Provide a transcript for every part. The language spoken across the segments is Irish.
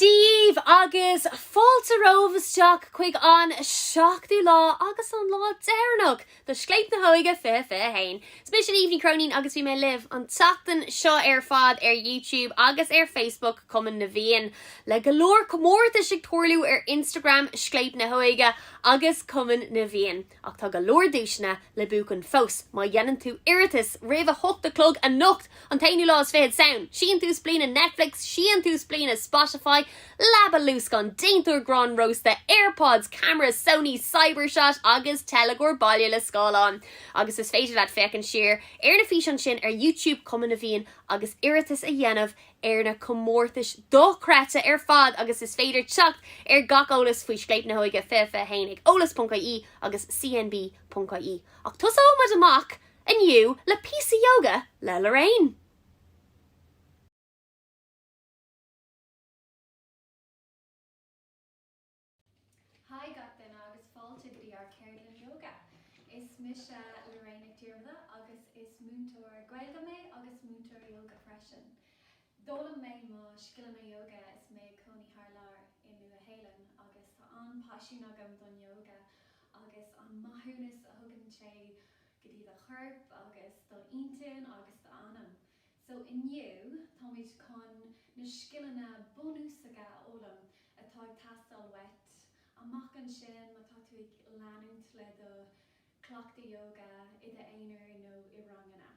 díbh agus fáilte romhaibh isteach chuig an seachtú lá agus an lá deireanach do Scléip na hÓige 2021. Is mise Niamh Ní Chróinín agus bhí mé libh an tseachtain seo ar fad ar YouTube agus ar Facebook Chumann na bhFiann, le go leor comórtais ag tarlú ar Instagram Scléip na hÓige agus Cumann na bhFiann. Ach tá go leor duaiseanna le buachan fós má dhéanann tú iarratas roimh a hocht a chlog anocht, an t-aonú lá is fichead Samhain! Síntiús bliana Netflix, síntiús bliana Spotify, leaba luascáin, déantóir gráin rósta, Airpods, ceamara Sony Cybershot agus teilgeoir baile le scáileán! Agus is féidir leat féachaint siar ar na físeáin sin ar YouTube, Cumann na bhFiann, agus iarratas a dhéanamh ar na comórtais dochreidte ar fad agus is féidir teacht ar gach eolas faoi Scléip na hÓige 2021 ag eolas.ie agus cnb.ie. Ach tosóidh muid amach inniu le píosa yoga le Lorraine! Haigh gach duine agus fáilte go dtí ár ceardlann Yoga! Is mise Lorraine Nic Dhiarmada agus is múinteoir Gaeilge mé agus múinteoir Yoga freisin. D'fhoghlaim mé mo scileanna Yoga is mé ag cónaí thar lear i Nua Shéalainn agus tá an-paisean agam don Yoga agus an maithiúnas a thugann sé go dtí do chorp agus do intinn agus do anam. So inniu táimid chun na scileanna bunúsacha a fhoghlaim atá ag teastáil uait amach ansin má tá tú ag leanúint le do chleachtadh yoga i d'aonar nó i ranganna.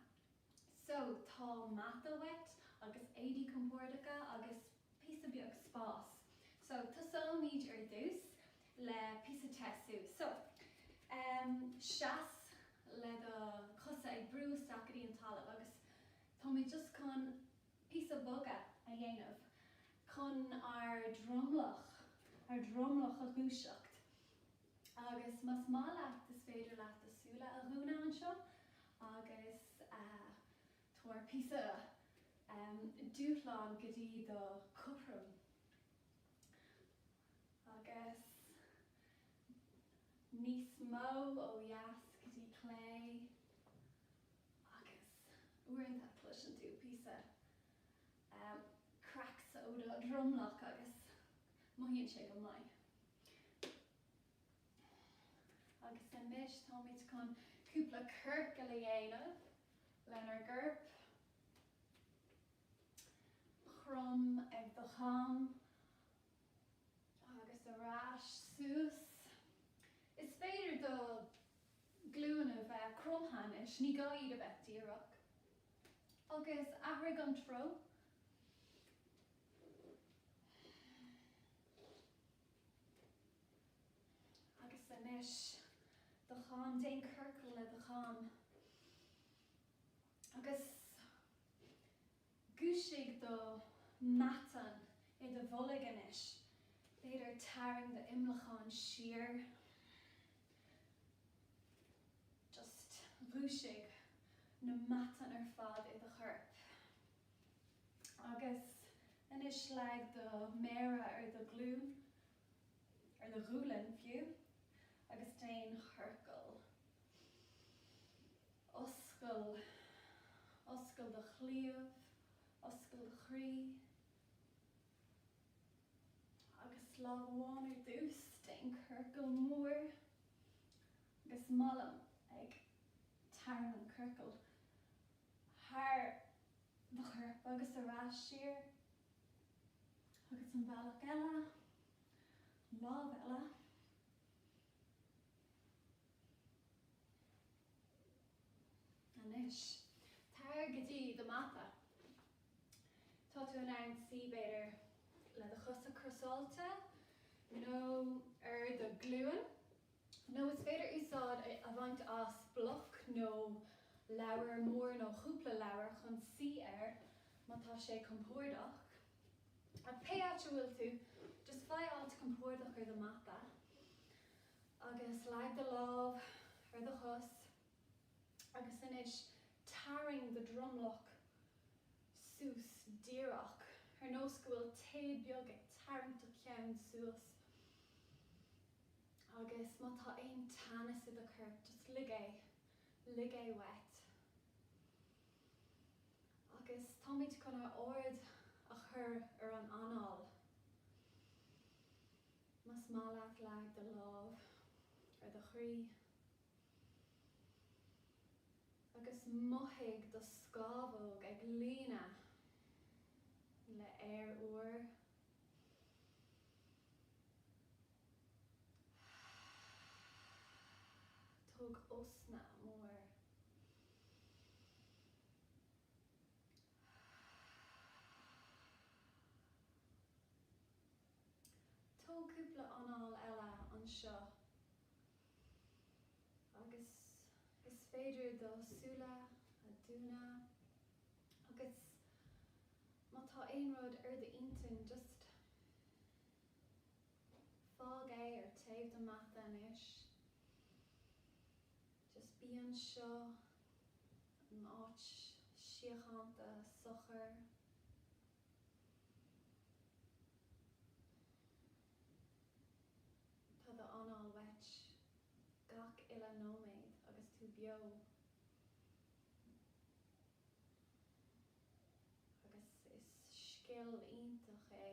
So tá mata uait agus éadaí compórdacha agus píosa beag spás. So tosóimid ar dtús le píosa te sú. So, em, seas le do chosa ag brú isteach go dtí an talamh agus tá muid just chun píosa bogadh a dhéanamh chun ár dromlach, ár dromlach a dhúiseacht. Agus más maith leat, is féidir leat do súile a dhúnadh anseo agus, eh, tabhair píosa, em, dúshlán go dtí do chothrom. agus níos mó ó dheas go dtí clé agus uaireanta cloiseann tú píosa cracks ó do dhromlach agus mothaíonn sé go maith. Agus anois táimid chun cúpla ciorcal a dhéanamh lenár gcorp, crom ag do chom Agus ar ais suas. Is féidir do ghlúin a bheith cromtha anois, ní gá iad a bheith díreach. Agus athraigh an treo. Agus anois do cheann, déan ciorcal le do cheann. Agus. Dhúisigh do mheatáin i do bholg anois, b'fhéidir tarraing do imleacán siar, just dhúisigh na meatáin ar fad i do chorp. Agus anois leag do méara ar do ghlúin, ar do ghualainn fiú, agus déan ciorcal. Oscail, oscail do chliabh, oscail do chroí. Agus lámh amháin ar dtús, déan ciorcal mór agus mo lámh ag tarraingt an chiorcail thar do chorp agus ar ais siar. Agus an bealach eile, an lámh eile, Anois, tar go dtí do mhata. Tá tú in ann suí, b'fhéidir, le do chosa crosáilte nó ar do ghlúin, nó is féidir úsáid a bhaint as bloc nó leabhar mór nó chúpla leabhar chun suí air, má tá sé compordach. Ach pé áit a bhfuil tú, just faigh áit compordach ar do mhata agus leag do lámh ar do chos agus anois tarraing do dhromlach suas díreach ar nós go bhfuil téad beag ag tarraingt do cheann suas agus má tá aon teannas i do chorp, just lig, lig é uait. Agus táimid chun ár aird a chur ar an anáil. Más maith leat leag do lámh ar do chroí agus mothaigh do scámhóg ag líonadh le haer úr. Tóg osna mór. Tóg cúpla anáil eile anseo agus is féidir do shúile a dhúnadh agus má tá aon rud ar d'intinn just. Fág é ar taobh do mhata anois. Just bí anseo in áit síochánta socair. Tá do anáil uait gach uile nóiméad agus tú beo. agus is scil iontach é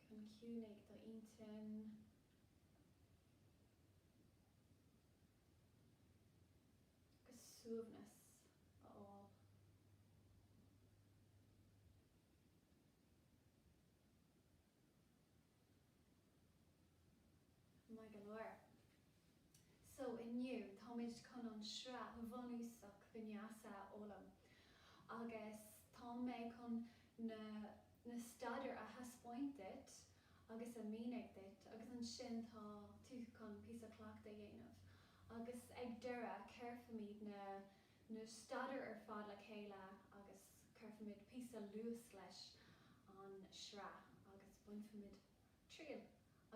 chun ciúnaigh do intinn. agus suaimhneas a fháil. Maith go leor. So, inniu, táimid chun an sraith bhunúsach vinyasa a fhoghlaim agus tá mé chun na na staidéir a thaispeáint duit agus a mhínigh duit agus ansin tá tú chun píosa cleachta a dhéanamh agus ag deireadh, cuirfimid na na staidéir ar fad le chéile agus. Cuirfimid píosa luais leis an sraith agus bainfimid triail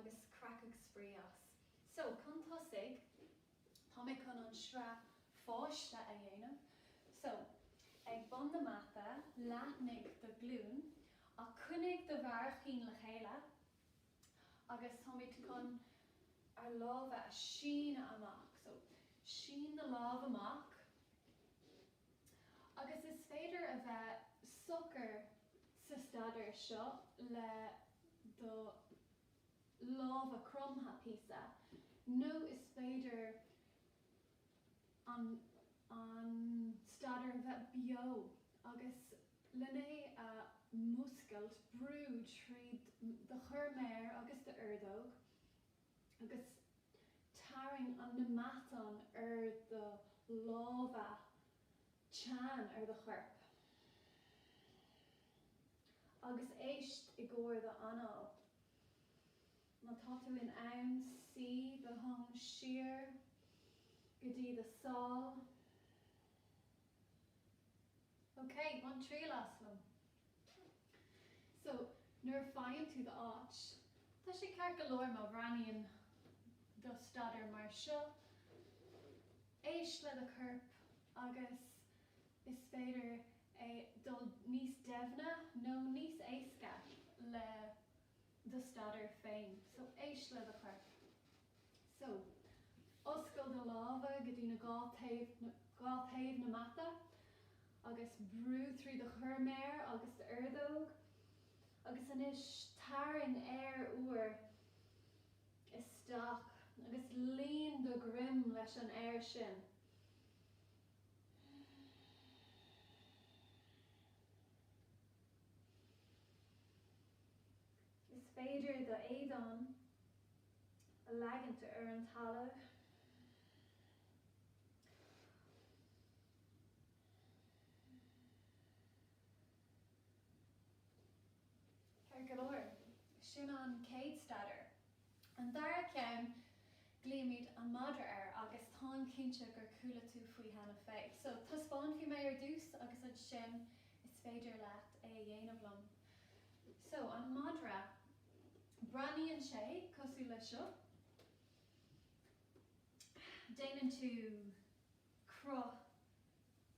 agus craic agus spraoi as. So, chun tosaigh, tá mé chun an sraith pháiste a dhéanamh. So, ag bun na mata, leathnaigh do ghlúin ach coinnigh do bharraicín le chéile agus táimid chun ár lámha a síneadh amach. So, sín na lámh amach. Agus is féidir a bheith socair sa staidéar seo le do lámha cromtha píosa, nó is féidir an an staidéar a bheith beo agus len é a mhúscailt, brú tríd do chorrmhéar agus d'ordóg. agus tarraing an matán ar do lámha, teann ar do chorp, agus éist i gcomhair do anáil. Má tá tú in ann, suí do thóin siar go dtí do sál. OK, bain triail as liom. So, nuair a fhaigheann tú d'áit, tá sé ceart go leor má bhreathnaíonn do staidéar mar seo, éist le do chorp agus is féidir é dul níos deimhne nó níos éasca le do staidéar féin. So, éist le do chorp. So. Oscail do lámha go dtí na dhá taobh na mata agus brú trí do chorrmhéar agus d'ordóg agus anois tarraing aer úr isteach agus líon do dhroim leis an aer sin. Is féidir do éadán a leagaint ar an talamh. Ceart go leor, sin an chéad staidéar. An dara ceann, glaoimid an madra air agus táim cinnte gur chuala tú faoi cheana féin. So, taispeánfaidh mé ar dtús agus ansin is féidir leat é a dhéanamh liom. So, an madra, breathnaíonn sé cosúil le seo. Déanann tú cruth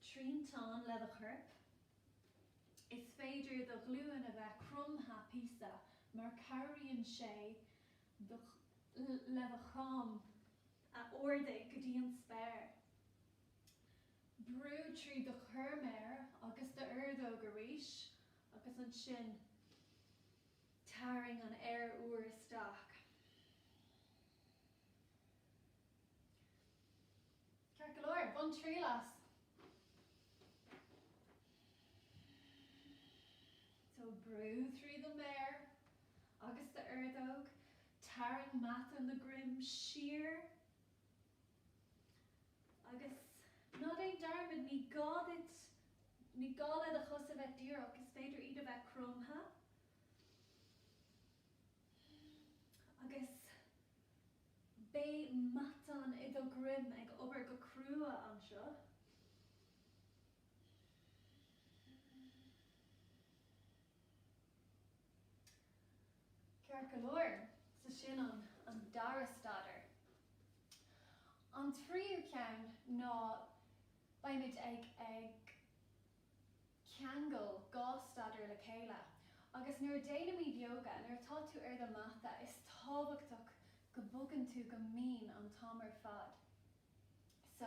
triantáin le do chorp. Is féidir do ghlúin a bheith cromtha píosa mar cabhraíonn sé le do choim a ardaigh go dtí an spéir. Brú trí do chorrmhéar agus d'ordóg arís agus ansin tarraing an aer úr isteach. Ceart go leor, bain triail as! So, brú trí do mhéar agus d'ordóg, tarraing matáin do dhroim siar. Agus ná déan dearmad, ní gá duit, ní gá le do chos a bheith díreach, is féidir iad a bheith cromtha. Agus beidh matáin do dhroim ag obair go crua anseo. Ceart go leor, so sin an an dara staidéar. An tríú ceann ná beidh muid ag ag ceangal dhá staidéar le chéile agus nuair a dhéanaimid yoga, nuair atá tú ar do mata, is tábhachtach go bhogann tú go mín an t-am ar fad. So,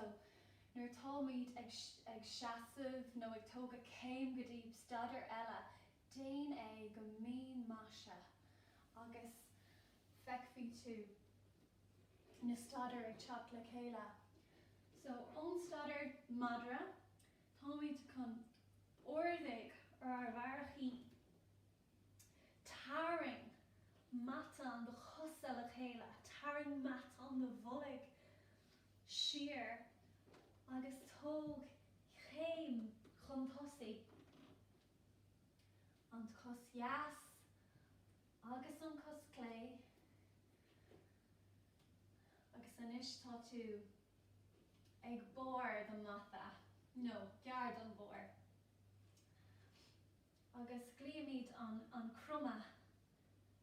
nuair atáimid ag seasamh nó ag tógadh céim go dtí staidiúir eile, déan é go mín más ea agus feicfídh tú na staidiúir ag teacht le chéile. So, ón staidiúir madra, táimid chun ardú ar ár mbarraicíní. Tarraing matán do chosa le chéile, tarraing matán do bhoilg siar agus tóg céim chun tosaigh, an cos dheas agus an cos chlé, agus anois tá tú ag barr do mhata, nó gar don bharr. agus glaoimid an cromadh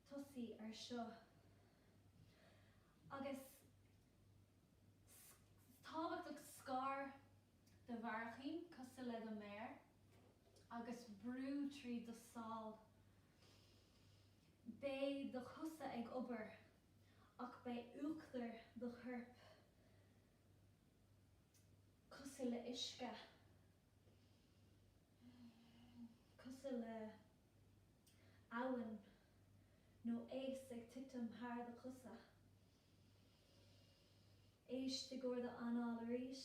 tosaigh ar seo agus is tábhachtach scar do bharraicíní cosúil le do méar agus brú trí do sháil. Beidh do chosa ag obair ach beidh uachtar do choirp cosúil le huisce. cosúil le abhainn nó eas ag titim thar do chosa. Éist i gcomhair d'anáil arís.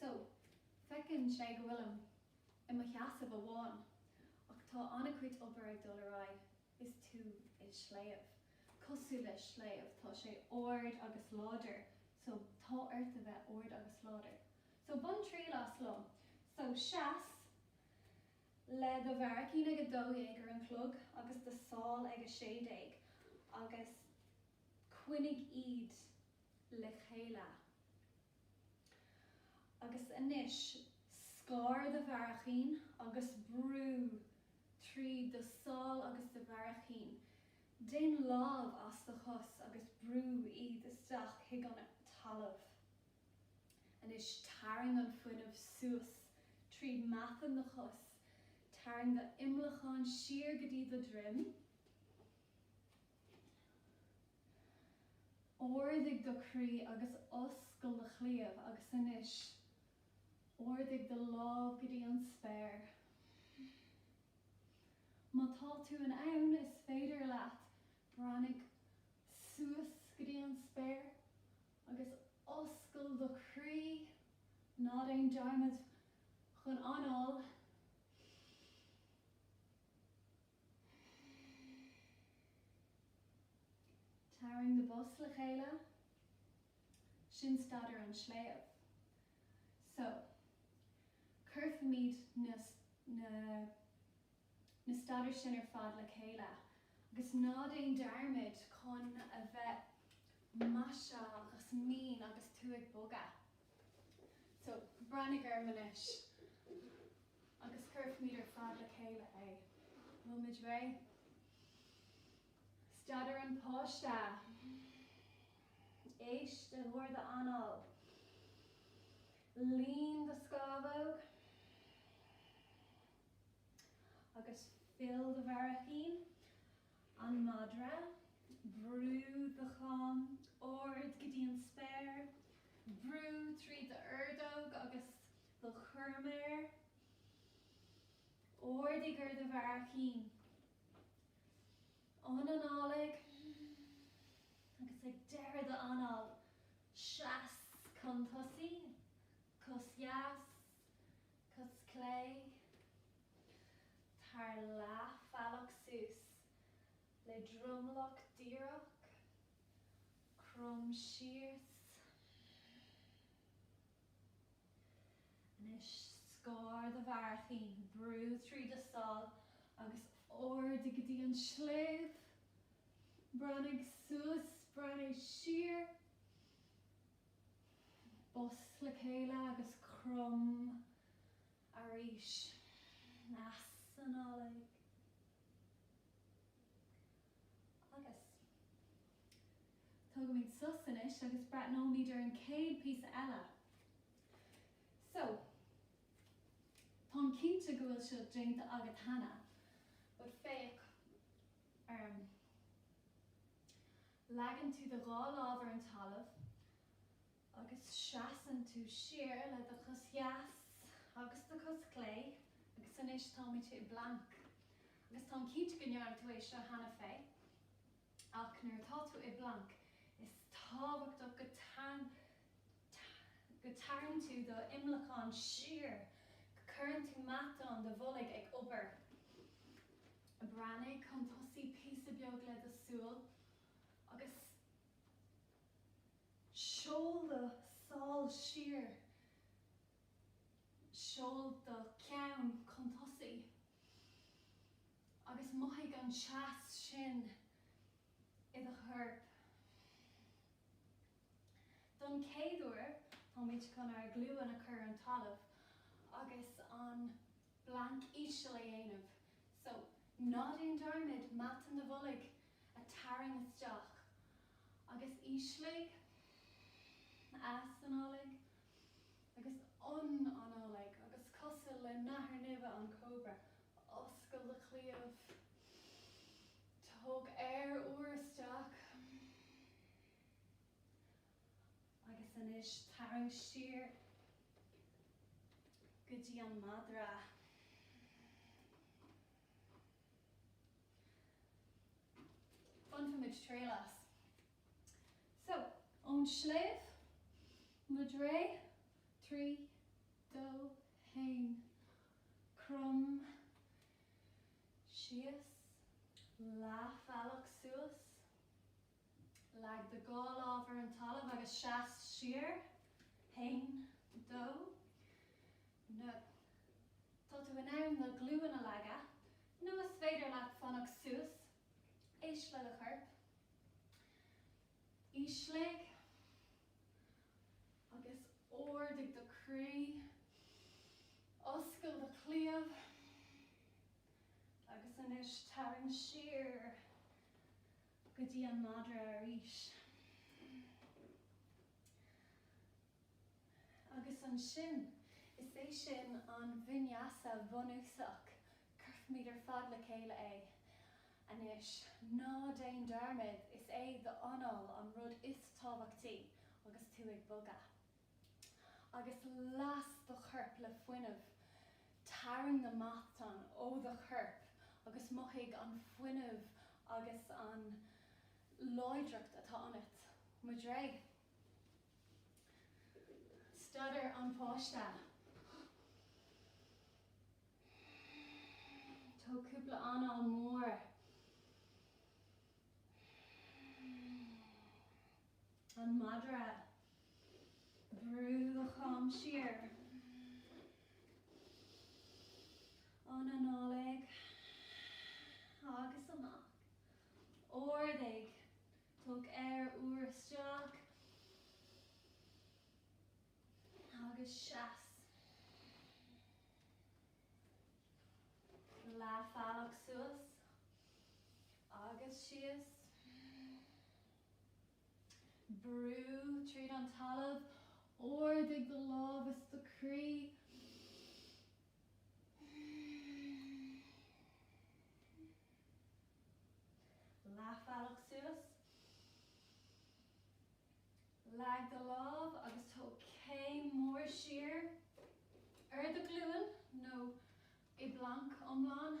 So, féachann sé go bhfuilim i mo sheasamh amháin, ach tá an-chuid obair ag dul ar aghaidh. Is tú i sliabh, cosúil le sliabh, tá sé ard agus láidir, so tá ort a bheith ard agus láidir. So, bain triail as liom. So, seas le do bharraicín ag a dó dhéag ar an chlog agus do sháil ag a sé déag, agus coinnigh iad. le chéile. Agus anois, scar do bharraicíní agus brú trí do sháil agus do bharraicíní. Déan lámh as do chos agus brú iad isteach chuig an talamh. Anois, tarraing an fuinneamh suas trí matáin do chos, tarraing do imleacán siar go dtí do dhroim. Ardaigh do chroí agus oscail do chliabh agus anois ardaigh do lámh go dtí an spéir. Má tá tú in ann, is féidir leat breathnaigh suas go dtí an spéir agus oscail do chroí, ná déan dearmad chun análú. Tarraing na bosa le chéile. Sin staidiúir an sléibh. So, cuirfimid na, na, na staidiúir sin ar fad le chéile agus ná déan dearmad chun a bheith maiseach agus mín agus tú ag bogadh. So, breathnaigh orm anois. agus cuirfimid ar fad le chéile é, bhfuil muid réidh? Staidiúir an páiste. Éist ar d'anáil. Líon do scámhóg agus fill do bharraicín. An madra, brú do chom ard go dtí an spéir, brú trí d'ordóg agus. Do chorrmhéar, ardaigh ar do bharraicín, ionanálaigh, agus ag deireadh do anáil, seas chun tosaigh, cos dheas, cos chlé, tar leathbhealach suas le dromlach díreach, crom síos. Anois, scar do bharraicín, brú trí do sháil agus ardaigh go dtí an sliabh. Breathnaigh suas, breathnaigh siar, bos le chéile agus crom arís. Easanálaigh. Agus. Tógfaimid sos anois agus breathnóimid ar an chéad phíosa eile. So. Táim cinnte go bhfuil seo déanta agat cheana, but féach orm. Leagann tú do dhá lámh ar an talamh agus seasann tú siar le do chos dheas agus do chos chlé agus anois táimid i bplanc agus táim cinnte go ndearna tú é seo cheana féin ach nuair atá tú i bplanc is tábhachtach go dtarraingíonn tú d'imleacán siar, go cuireann tú matáin do bhoilg ag obair. Breathnaigh chun tosaigh píosa beag le do shúile agus. Seol do shála siar. Seol do cheann chun tosaigh. Agus mothaigh an teas sin i do chorp. Don chéad uair, táimid chun ár nglúine a chur ar an talamh agus an. Planc íseal a dhéanamh. So, ná déan dearmad matáin do bhoilg a' tarraing isteach agus ísligh easanálaigh agus ionanálaigh agus cosúil le nathair nimhe an cóbra. Oscail do chliabh. Tóg aer úr isteach. Agus anois tarraing siar go dtí an madra. Bainfidh muid triail as. So, ón sliabh, madra, trí, dó, haon, crom, síos, leathbhealach suas, Leag do dhá lámh ar an talamh agus seas siar. haon, dó, na. Tá tú in ann na glúine a leagadh nó is féidir leat fanacht suas. Éist le do chorp. Ísligh agus ardaigh do chroí. Oscail do chliabh. Agus anois tarraing siar. go dtí an madra arís agus ansin is é sin an vinyasa bunúsach, cuirfimid ar fad le chéile é. Anois, ná déan dearmad, is é d'anáil an rud is tábhachtaí agus tú ag bogadh. agus las do chorp le fuinneamh. Tarraing na matáin i do chorp agus mothaigh an fuinneamh agus an láidreacht atá ionat. Muid réidh? Staidiúir an pháiste, Tóg cúpla anáil mhór. an madra. Brú do chom siar ionanálaigh agus amach. Ardaigh tóg aer úr isteach agus seas leathbhealach suas agus síos. Brú tríd an talamh, ardaigh do lámh is do chroí. Leathbhealach suas, leag do lámh agus tóg céim mór siar ar do ghlúin nó i bplanc iomlán.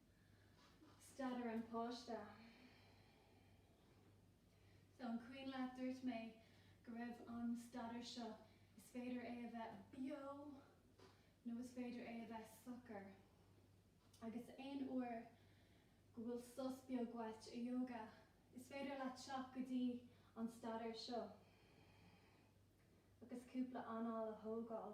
Staidiúir an páiste. So an cuimhin leat dúirt mé go raibh an staidiúir seo, is féidir é a bheith beo nó is féidir é a bheith socair. Agus aon uair go bhfuil sos beag uait i Yoga, is féidir leat teacht go dtí an staidiúir seo agus cúpla anáil a thógáil.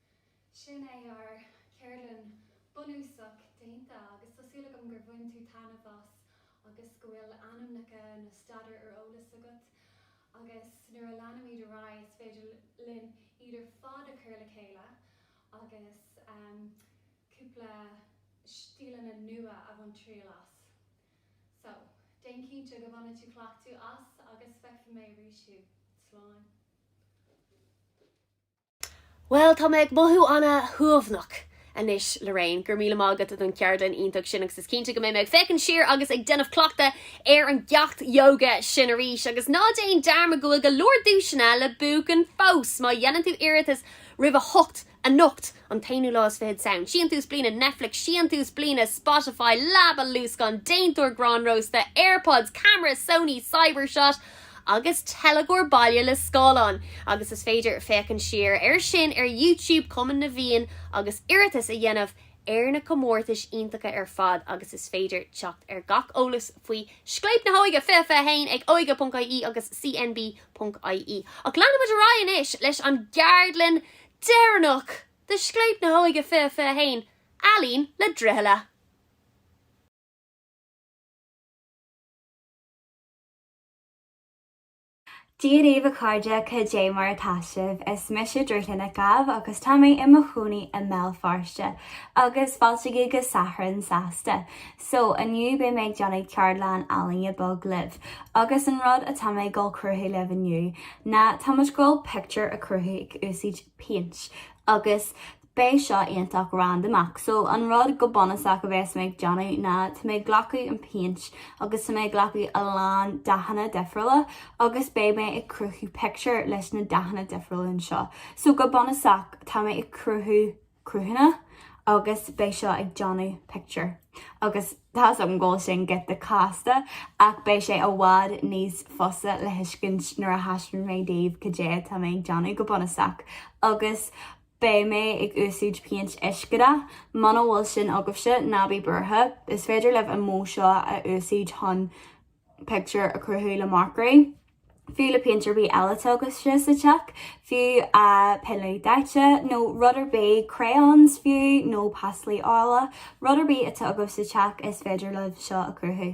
Sin é ár gceardlann bunúsach déanta agus tá súil agam gur bhain tú taitneamh as agus go bhfuil ainmneacha na staidiúir ar eolas agat agus nuair a leanaimid ar aghaidh is féidir linn iad ar fad a chur le chéile agus cúpla stíleanna nua a bhaint triail as. So, déan cinnte go bhaineann tú cleachtadh as agus feicfidh mé arís thú. Slán! Bhuel, tá mé ag mothú an-shuaimhneach anois, Lorraine, go raibh míle maith agat don cheardlann iontach sin agus is cinnte go mbeidh mé ag féachaint siar agus ag déanamh cleachtaidh ar an gceacht yoga sin arís. Agus ná déan dearmad go bhfuil go leor duaiseanna le buachan fós! Má dhéanann tú iarratas roimh a hocht anocht, an t-aonú lá is fiche de Samhain, síntiús bliana Netflix, síntiús bliana Spotify, leaba luascáin, déantóir grán rósta, Airpods, camera Sony Cybershot, agus teilgeoir baile le scáileán, agus is féidir féachaint siar air sin ar YouTube Chumann na bhFiann agus iarratas a dhéanamh ar na comórtais iontacha ar fad agus is féidir teacht ar gach eolas faoi Scléip na hÓige 2021 ag óige.ie agus cnb.ie. Ach leanfaidh muid ar aghaidh anois leis an gceardlann deireanach de Scléip na hÓige 2021, Ealaín le Droichealla! Dia daoibh a chairde, cad é mar atá sibh? Is mise Drúthlin Nic Gabh agus tá mé i mo chónaí i mBéal Feirste, agus fáilte agaibh go Satharn Sásta! So, inniu beidh mé ag déanamh ceardlann ealaíne bheag libh, agus an rud atá mé ag dul a chruthú libh inniu ná, tá muid ag dul pictiúr a cruthú ag úsáid péint, agus. Beidh seo iontach randamach, so an rud go bunúsach a bheas mé ag déanamh ná tá mé ag glacadh an péint agus tá mé ag glacadh a lán dathanna difriúla agus beidh mé ag cruthú pictiúr leis na dathanna difriúla anseo. So go bunúsach tá mé ag cruthú cruthanna agus beidh seo ag déanamh pictiúr agus tá's agam go bhfuil sin giota casta ach beidh sé i bhfad níos fusa le tuiscint nuair a thaispeanfaidh mé daoibh cad é atá mé ag déanamh go bunúsach agus beidh mé ag úsáid péint uiscedhatha, muna bhfuil sin agaibhse, ná bí buartha, is féidir libh an modh seo a úsáid chun pictiúr a chruthú le marcairí, fiú nó péint ar bith eile atá agaibhse sa teach, fiú peann luaidhe daite, nó rud ar bith, crayons fiú, nó pastail ola, rud ar bith atá agaibh sa teach is féidir libh seo a chruthú.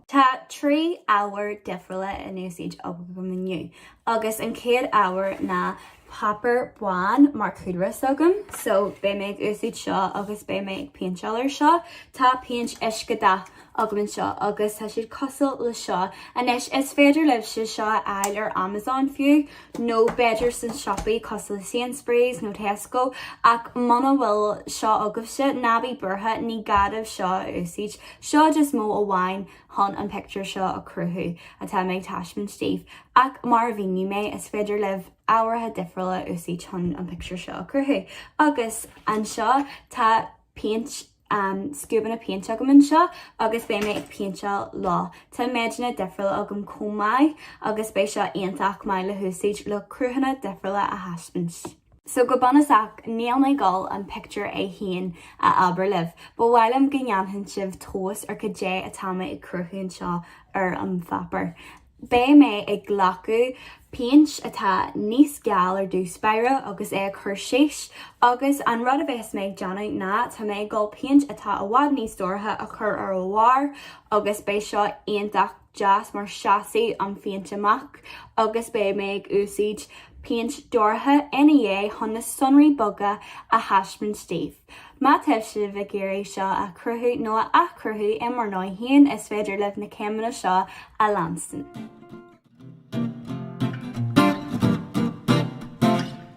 Tá trí ábhar difriúla in úsáid agam inniu agus an chéad ábhar ná páipéar bán mar chúlra s'agam so beidh mé ag úsáid seo agus beidh mé ag péinteáil ar seo. Tá péint uiscedhatha agam anseo agus tá siad cosúil le seo. Anois is féidir libhse seo a fháil ar Amazon fiú nó b'fhéidir sna siopaí cosúil le Sainsbury's nó Tesco ach muna bhfuil seo agaibhse ná bí buartha ní gá daoibh seo a úsáid, Seo just modh amháin chun an pictiúr seo a chruthú atá mé ag taispeáint daoibh, ach mar a mhínigh mé, is féidir libh ábhair difriúla a úsáid chun an pictiúr seo a chruthú. Agus anseo tá péint, scuabanna péinte agam anseo agus beidh mé ag péinteáil leo. Tá méideanna difriúla agam chomh maith agus beidh seo iontach maith le húsáid le cruthanna difriúla a thaispeáint. So, go bunúsach, níl mé ag dul an pictiúr é féin a abair libh, ba mhaith liom go ndéanfadh sibh tomhas ar cad é atá muid ag cruthú anseo ar an pháipéar. Beidh mé ag glacadh péint atá níos geal ar dtús báire agus é a chur síos, agus an rud a bheas mé ag déanamh ná tá mé ag dul péint atá i bhfad níos dorcha a chur ar a bharr agus beidh seo iontach. deas mar seasfaidh an phéint amach agus beidh mé ag úsáid péint dorcha ina dhiaidh chun na sonraí beaga a thaispeáint daoibh. Má tá sibh ag iarraidh seo a chruthú nó a athchruthú i bhur ndóigh féin is féidir libh na céimeanna seo a leanstan.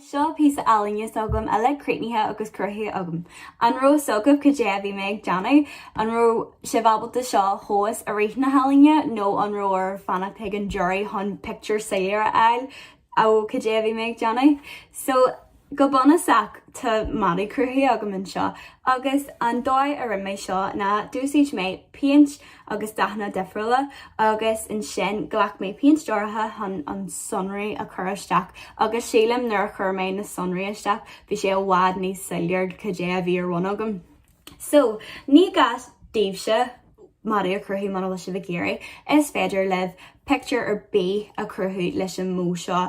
Seo an píosa ealaíne s'agam, uilig críochnaithe agus cruthaithe agam. An raibh fhios agaibh cad é a bhí mé ag déanamh? An raibh sibh ábalta seo a thomhas i rith na ealaíne nó an raibh oraibh fanacht chuig an deireadh chun pictiúr soiléir a fháil ar cad é a bhí mé ag déanamh? So, go bunúsach, tá madadh cruthaithe agam anseo agus an dóigh a rinne mé seo ná d'úsaid mé péint agus dathanna difriúla agus ansin ghlac mé peann luaidhe chun sonraí a chur isteach agus sílim nuair a chuir mé na sonraí isteach bhí sé i bhfad níos soiléir cad é a bhí ar bhun agam. So, ní gá daoibhse madraí a chruthú muna bhfuil sibh ag iarraidh, is féidir libh pictiúr ar bith a chruthú leis an modh seo.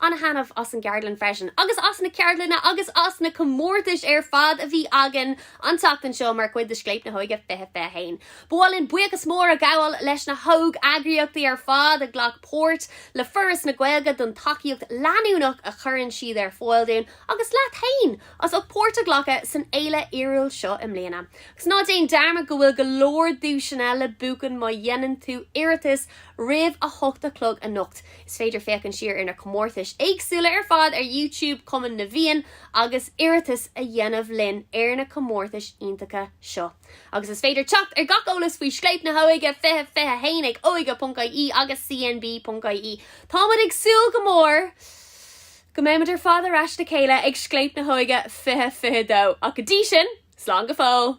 Ana-thaitneamh as an gceardlann freisin, agus as na ceardlanna agus as na comórtais ar fad a bhí againn an tseachtain seo mar chuid de Scléip na hÓige 2021. Ba mhaith linn buíochas mór a ghabháil leis na hóg-eagraíochtaí ar fad a ghlac páirt, le Foras na Gaeilge don tacaíocht leanúnach a chuireann siad ar fáil dúinn, agus leat féin as ucht páirt a ghlacadh san fhéile fhíorúil seo i mbliana. Agus ná déan dearmad go bhfuil go leor duaiseanna le buachan má dhéanann tú iarratas roimh a hocht a chlog anocht! Is féidir féachaint siar ar na comórtais éagsúla ar fad ar YouTube Chumann na bhFiann agus iarratas a dhéanamh linn ar na comórtais iontacha seo. Agus is féidir teacht ar gach eolas faoi Scléip na hÓige 2021 ag óige.ie agus cnb.ie. Táimid ag súil go mór go mbeimid ar fad ar ais le chéile ag Scléip na hÓige 2022, ach go dtí sin, slán go fóill!